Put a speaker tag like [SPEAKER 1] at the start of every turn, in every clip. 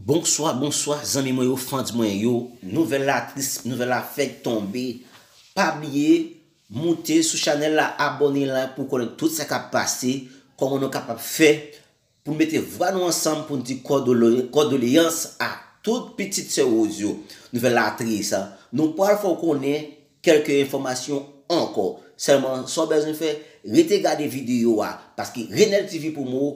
[SPEAKER 1] Bonswa bonswa zanmi mwen yo fans mwen yo nouvèl la tris nouvèl la fèk tonbe pa bliye moute sou chanèl la abòne la pou konnen tout sa kap pase kòman nou kapab fè pou mete vwa nou ansanm pou n di kòdoleyans a tout pitit sè Rose yo nouvèl la tris nou pral fè w konnen kèlke enfòmasyon ankò sèlman sa w bezwen fè rete gade videyo a paske Renel TV promo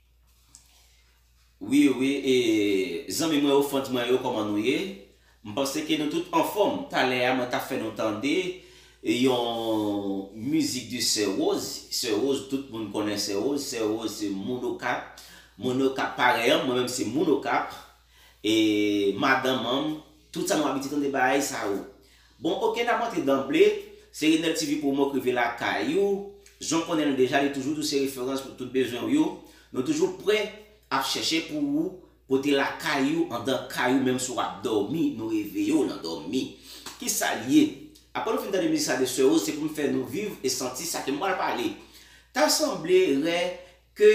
[SPEAKER 1] Wi wi e zanmi mwen ou fans mwen yo koman nou ye m panse ke nou tout anfom talè a mwen tap fè nou tande yon mizik de sè rose sè rose tout moun konnen sè rose sè rose se moun okap moun okap parèy an mwen menm se moun okap E madan manm tout sa nou abitye tande baay sa yo. Bon ok nap antre danble se Renel TV promo k rive lakay ou jan w konnen l deja li toujou di w se referans pou tout bezwen w yo nou toujou prè ap chèche pou ou pote lakay ou andan kay ou menm si w ap dòmi nou reveye w nan dòmi kisa l ye aprè nou fin tande mizik sa de Soeur Rose se pou m fè nou viv e santi sa ke m pral pale ta sanble rè Ke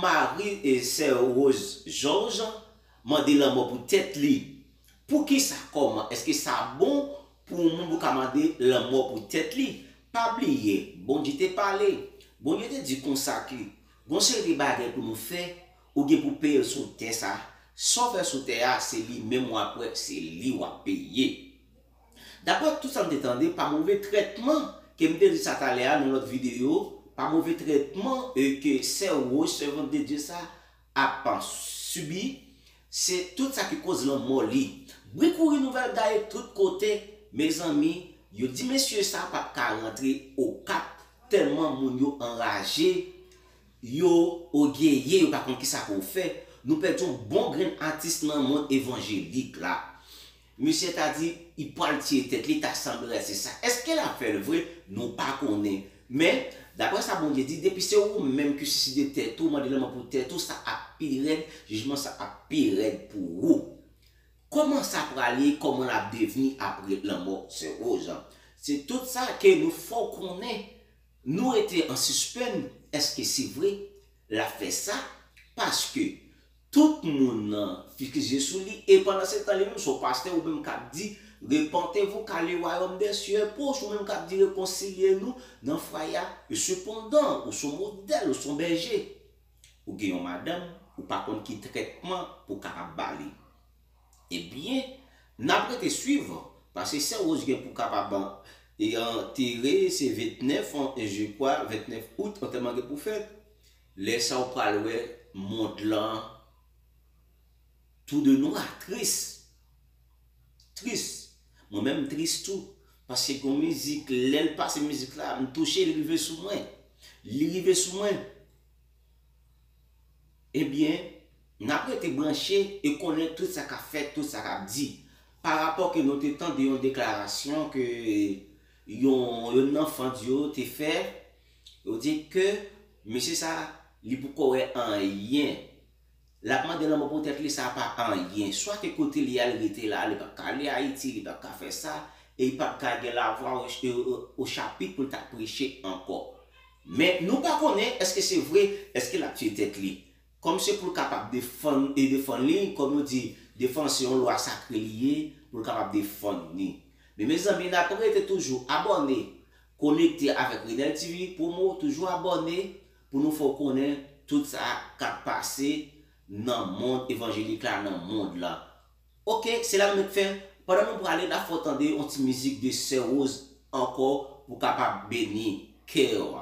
[SPEAKER 1] mari sè Rose George mande lanmò pou tèt li. Poukisa, kòman, èske sa bon pou yon moun pou ka mande lanmò pou tèt li? Pa bliye, Bondye te pale. Bondye te di konsa ke gon yon seri de bagay pou nou fè, ou gen pou peye l sou tè sa a. Sa w fè sou tè a, se li menm w ap wè, se li w ap peye. Daprè tout sa m te tande pa move trètman ke m te di sa talè a nan lòt videyo, pa move trètman ke sè Rose, sèvant de Dye sa, ap sibi, se tout sa ki koz lanmò li. Bri kouri nouvèl gaye tout kote, mezanmi, yo di mesye sa pap ka rantre Okap tèlman moun yo anraje, yo ogeye, yo pa konn kisa pou yo fè. Nou pèdi yon bon grenn atis nan mond evanjelik la. Misye ta di I pwal tiye tèt li ta sanblè se sa eske lap fèl vre nou pa konnen men daprè sa Bondye di depi se ou menm ki siside tèt ou mande lanmò pou tèt ou sa ap pi rèd jijman sa ap pi rèd pou ou kòman sa pral ye kòman lap devni aprè lanmò sè Rose an se tout sa ke nou fèw konnen nou rete an sispenn eske se vre lap fè sa paske Tout moun nan fix je sou li e pandan se tan li menm se w pastè ou menm kap di repantez vous car le royaume des cieux est proche ou menm kap di rekonsilye nou nan fwaye a e sepandan ou son modèl ou son bèje ou gen yon madanm ou pa konn ki trètman pou kapab ba li e byen nap rete swiv pase sè Rose gen pou kapab e antere se 29 je kwa 29 août antèman gen pou fèt. Lè sa ou pral wè mond lan tou de nwa, tris. Tris. Mwen menm m tris tou. Paske gon mizik lè l pase mizik la m touche li rive sou mwen. Li rive sou mwen. Ebyen n ap rete branche e konnen tout sa k ap fèt, tout sa k ap di. Pa rapò ke nou te tande yon deklarasyon ke yon yonn nan fans yo te fè Yo di ke mesye sa li pou kowè anyen. Lap mande lanmò pou tèt li sa pa anyen. Swa ke kote li al rete la li pap ka ale Ayiti, li pap ka fè sa, e li pap ka gen lavwa o chapit pou l ta preche ankò. Men nou pa konnen eske se vre, eske lap tiye tèt li. Kòm se pou l kapab defann e defann li, kòm yo di, defann se yon lwa sakre li ye, pou l kapab defann ni. Men mezanmi n ap rete toujou abòne, konekte avèk Renel TV, promo, toujou abòne pou nou fè w konnen tout sa k ap pase nan mond evanjelik la, nan mond lan. Ok, se la nou mèt fè, pandan nou prale n ap fè w tande yon ti mizik de Sè Rose ankò pou kapab beni kè w.